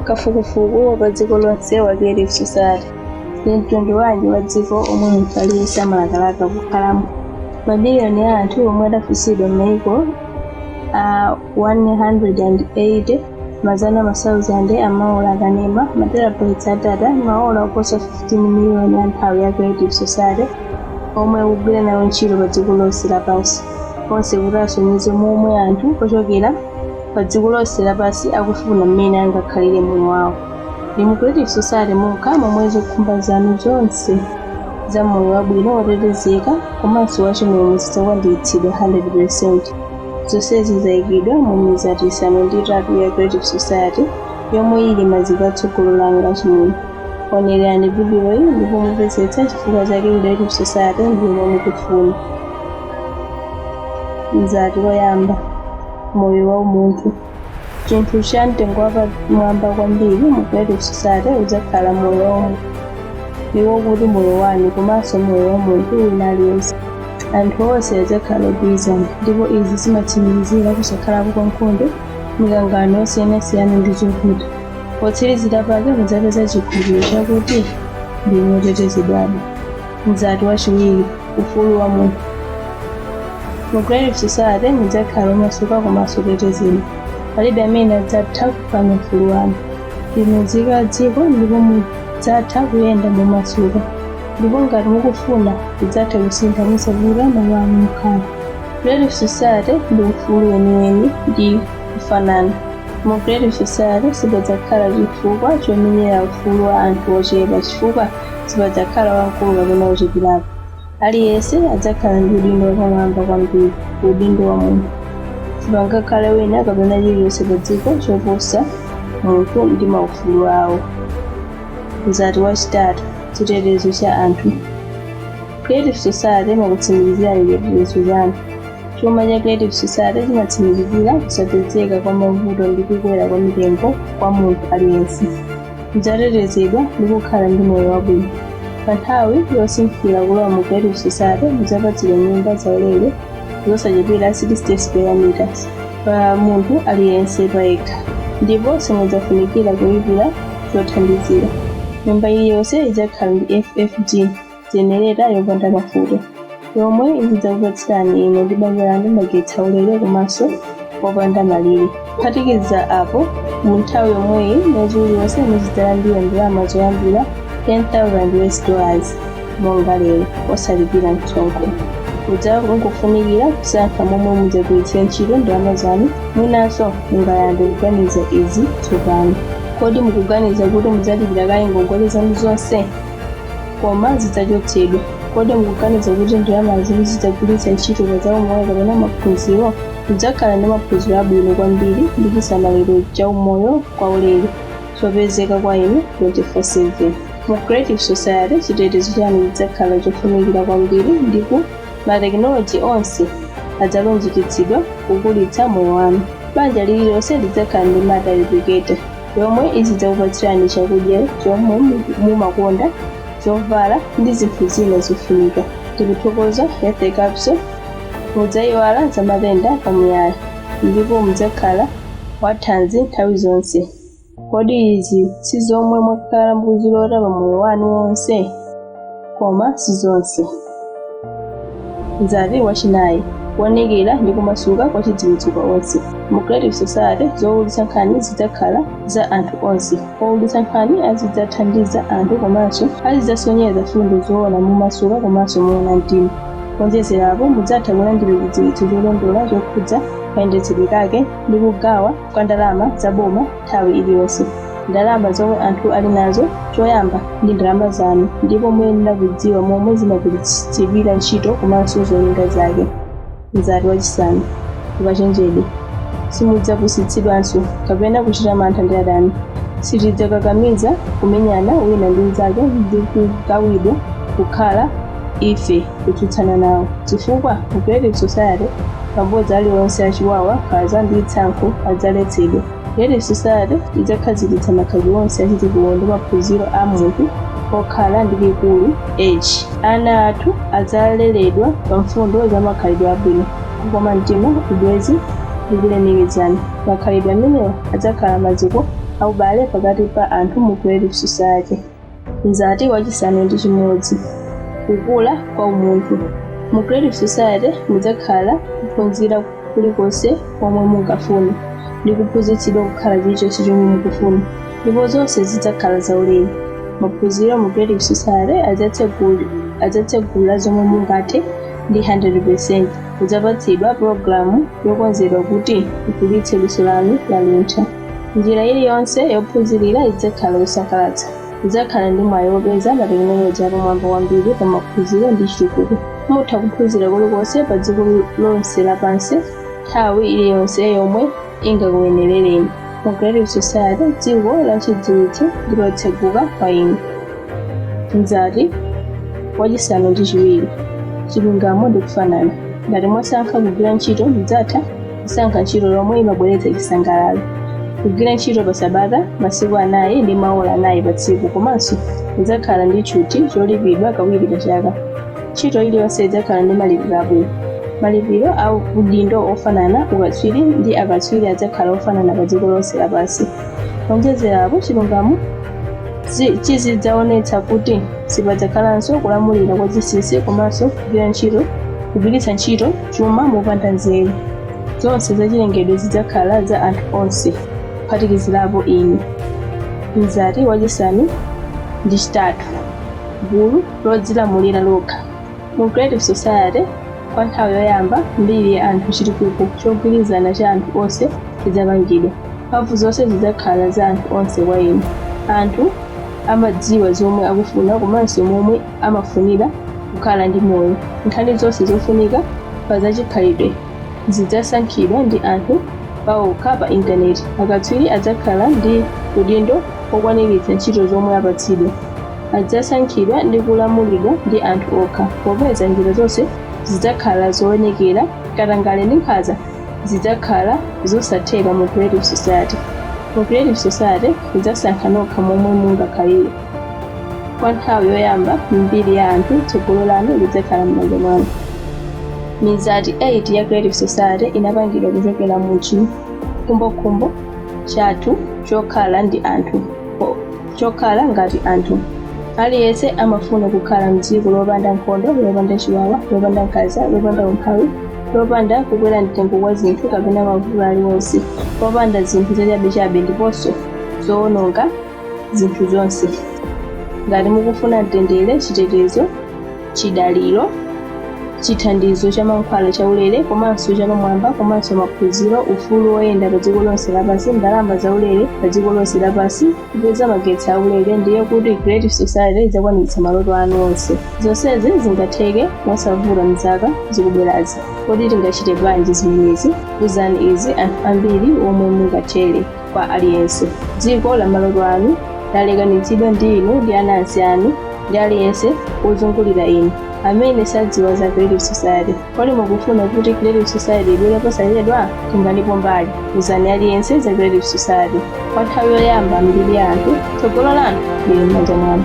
Kafukufuku wa pa dziko lonse wa Creative Society, Ndi mtundu wanji wa dziko omwe munthu aliyense amalakalaka kukhalamo? Mamiliyoni a anthu omwe adafunsidwa m'maiko a 180, mazana masauzande a maola a kanema, materabytes a data, maola oposa 15 miliyoni a nthawi ya Creative Society omwe akugwira nawo ntchito pa dziko lonse lapansi, onse kuti asonyeze momwe anthu ochokera pa dziko lonse lapansi akufuna mmene angakhalire moyo wawo ndi mu creative society mokha momwe zokhumba zanu zonse za moyo wabwino wotetezeka komanso wachimwemwe zidzakwaniritsidwa 100% zonsezi zayikidwa mu mizati isanu ndi itatu ya creative society yomwe ili maziko a tsogolo lanu achimwemwe onerani vidiyoyi ndipo mupezetse chifukwa chake creative society ndiyomwe mukufuna mzati woyamba moyo wa umunthu chinthu cha mtengo wapamwamba kwambiri mu creative society udzakhala moyo wa umunthu ndiwo kuti moyo wanu komanso moyo wa munthu wina aliyense anthu onse adzakhala ogwirizana ndipo izi zimatsimikizira kusakhalapo kwa nkhondo mikangano yosiyanasiyana ndi zovuta potsirizira pake mudzapeza chikhulupiliro chakuti ndinu otetezedwadi mzati wachiwiri ufulu wa munthu mu creative society mudzakhala omasuka komanso otetezedwa palibe amene adzatha kuphwanya ufulu wanu ndinu nzika ya dziko ndipo mudzatha kuyenda momasuka ndipo ngati mukufuna mudzatha kusintha mosavuta malo anu okhala creative society ndi ufulu weniweni ndi kufanana mu creative society sipadzakhala chifukwa chomenyera ufulu wa anthu ochepa chifukwa sipadzakhala wamkulu kapena wocheperapo. Aliyense adzakhala ndi udindo wapamwamba kwambiri, udindo wa munthu. Sipangakhale wina kapena chilichonse padziko choposa munthu ndi maufulu awo. Mzati wachitatu, chitetezo cha anthu. Creative Society imakutsimikizirani chitetezo chanu. Chuma cha Creative Society chimatsimikizira kusapezeka kwa mavuto ndi kukwera kwa mitengo kwa munthu aliyense. Mudzatetezedwa ndi kukhala ndi moyo wabwino. Pa nthawi yosinthira kulowa mu Creative Society, mudzapatsidwa nyumba zaulere zosachepera 60 square meters pa munthu aliyense payekha, ndipo simudzafunikira kulipira zothandizira. Nyumba iliyonse idzakhala ndi FFG. jenereta yopanda mafuta yomwe izidzakupatsirani inu ndi banja lanu magetsi aulere komanso opanda malire kuphatikiza apo mu nthawi yomweyi mwezi uliwonse muzidzalandira ndalama zoyambira 10000 us dollars monga lero osalipira msonkho mudzangofunikira kusankha momwe mudzagwiritsira ntchito ndalama zanu mwinanso mungayambe kuganiza izi tsopano kodi mukuganiza kuti mudzalipira kaye ngongole zanu zonse koma zidzachotsedwa. Kodi mukuganiza kuti ndalama zanu zidzagwiritsa ntchito pa zaumoyo kapena maphunziro? Mudzakhala ndi maphunziro abwino kwambiri ndi chisamaliro cha umoyo kwaulere chopezeka kwa inu 24/7. Mu Creative Society, chitetezo chanu chidzakhala chofunikira kwambiri ndipo matekinoloji onse adzalunjikitsidwa kukulitsa moyo wanu. Banja lililonse lidzakhala ndi matter replicator. yomwe izidzakupatsirani chakudya chomwe mumakonda zovala ndi zinthu zina zofunika tikuthokoza health capsule mudzayiwala za matenda pamuyaya ndipo mudzakhala wathanzi nthawi zonse kodi izi si zomwe mwakhala mukuzilota pa moyo wanu wonse koma si zonse. Mzati wachinayi kuonekera ndi kumasuka kwa chidziwitso kwa onse. Mu Creative Society zowulutsa nkhani zidzakhala za anthu onse. Owulutsa nkhani azidzathandiza anthu komanso azidzasonyeza mfundo zoona momasuka komanso moona mtima. Kuonjezerapo, mudzatha kulandira chidziwitso cholondola chokhudza kayendetsedwe kake ndi kugawa kwa ndalama za boma nthawi iliyonse. Ndalama zomwe anthu ali nazo choyamba ndi ndalama zanu ndipo muyenera kudziwa momwe zimagwiritsidwira ntchito komanso zolinga zake. Mzati wachisanu, ukachenjede. Simudzapusitsidwanso kapena kuchita mantha ndi adani. Sitidzakakamiza kumenyana wina ndi mnzake ndi kugawidwa kukhala ife kutsutsana nawo chifukwa mu creative society mabodza aliwonse achiwawa nkhanza ndi tsankho adzaletsedwa creative society idzakhazikitsa makhalidwe onse achitukuko ndi maphunziro a munthu okhala ndi likulu h ana athu adzaleredwa pa mfundo za makhalidwe abwino kukoma mtima ubwezi ndi kulemekezana makhalidwe amenewa adzakhala maziko aubale pakati pa anthu mu creative society mzati wachisanu ndi chimodzi kukula kwa umunthu mu creative society mudzakhala kuphunzira kulikonse komwe mungafune ndi kuphunzitsidwa kukhala chilichonse chomwe mukufuna ndipo zonse zidzakhala zaulere maphunziro mu creative society adzatsegula zomwe mungathe ndi 100% mudzapatsidwa pulogalamu yokonzedwa kuti ikulitse luso lanu la luntha Njira iliyonse yophunzirira idzakhala yosangalatsa. Mudzakhala ndi mwayi wopeza matekinoloji apamwamba kwambiri pa maphunziro ndi chitukuko. Mutha kuphunzira kulikonse pa dziko lonse lapansi nthawi iliyonse yomwe ingakuyenerereni. Mu Creative Society, dziko la chidziwitso ndi lotseguka kwa inu. Mzati wachisanu ndi chiwiri, chilungamo ndi kufanana. Ngati mwasankha kugwira ntchito, mudzatha kusankha ntchito yomwe imabweretsa chisangalalo, kugwira ntchito pa sabata masiku anayi ndi maola anayi pa tsiku komanso mudzakhala ndi tchuthi cholipidwa kawiri pa chaka. Ntchito iliyonse idzakhala ndi malipiro abwino. Malipiro a udindo ofanana, ukatswiri ndi akatswiri adzakhala ofanana pa dziko lonse lapansi. Kuonjezerapo, chilungamo chizidzaonetsa kuti sipadzakhalanso kulamulira kwa zinsinsi komanso kugwiritsa ntchito chuma mopanda nzeru. Zonse zachilengedwe zidzakhala za anthu onse, kuphatikizirapo inu. Mzati wachisanu ndi chitatu, gulu lodzilamulira lokha. Mu Creative Society, kwa nthawi yoyamba m'mbiri ya anthu chitukuko chogwirizana cha anthu onse chidzapangidwa. Mphamvu zonse zidzakhala za anthu onse kwa inu. Anthu amadziwa zomwe akufuna komanso momwe amafunira kukhala ndi moyo. Nkhani zonse zofunika pa zachikhalidwe zidzasankhidwa ndi anthu paokha pa intaneti. Akatswiri adzakhala ndi udindo wokwaniritsa ntchito zomwe apatsidwa. Adzasankhidwa ndi kulamulidwa ndi anthu okha. Popeza njira zonse zidzakhala zoonekera, katangale ndi nkhanza zidzakhala zosatheka mu Creative Society. Mu Creative Society mudzasankha nokha momwe mungakhalire. Kwa nthawi yoyamba m'mbiri ya anthu, tsogolo lanu lidzakhala m'manja mwanu. Mizati 8 ya Creative Society inapangidwa kuchokera mu chikhumbokhumbo chathu chokhala ndi anthu o- chokhala ngati anthu. Aliyense amafuna kukhala m'dziko lopanda nkhondo, lopanda chiwawa, lopanda nkhanza, lopanda umphawi, lopanda kukwera mtengo kwa zinthu kapena mavuto aliwonse, lopanda zinthu zachabechabe ndiponso zowononga zinthu zonse ngati mukufuna mtendere chitetezo chidaliro chithandizo cha mankhwala chaulere komanso chapamwamba komanso maphunziro ufulu woyenda pa dziko lonse lapansi ndalama zaulere pa dziko lonse lapansi kupeza magetsi aulere ndiye kuti creative society idzakwaniritsa maloto anu onse zonsezi zingatheke mosavuta mzaka zikubwerazi kodi tingachite bwanji zimenezi uzani izi anthu ambiri omwe mungathere kwa aliyense. Dziko la maloto anu lalekanitsidwa ndi inu ndi anansi anu ndi aliyense wozungulira inu amene sadziwa za Creative Society. Kodi mukufuna kuti Creative Society ibwere posachedwa? Tenganipo mbali. Uzani aliyense za Creative Society. Kwa nthawi yoyamba m'mbiri ya anthu, tsogolo lanu lili m'manja mwanu.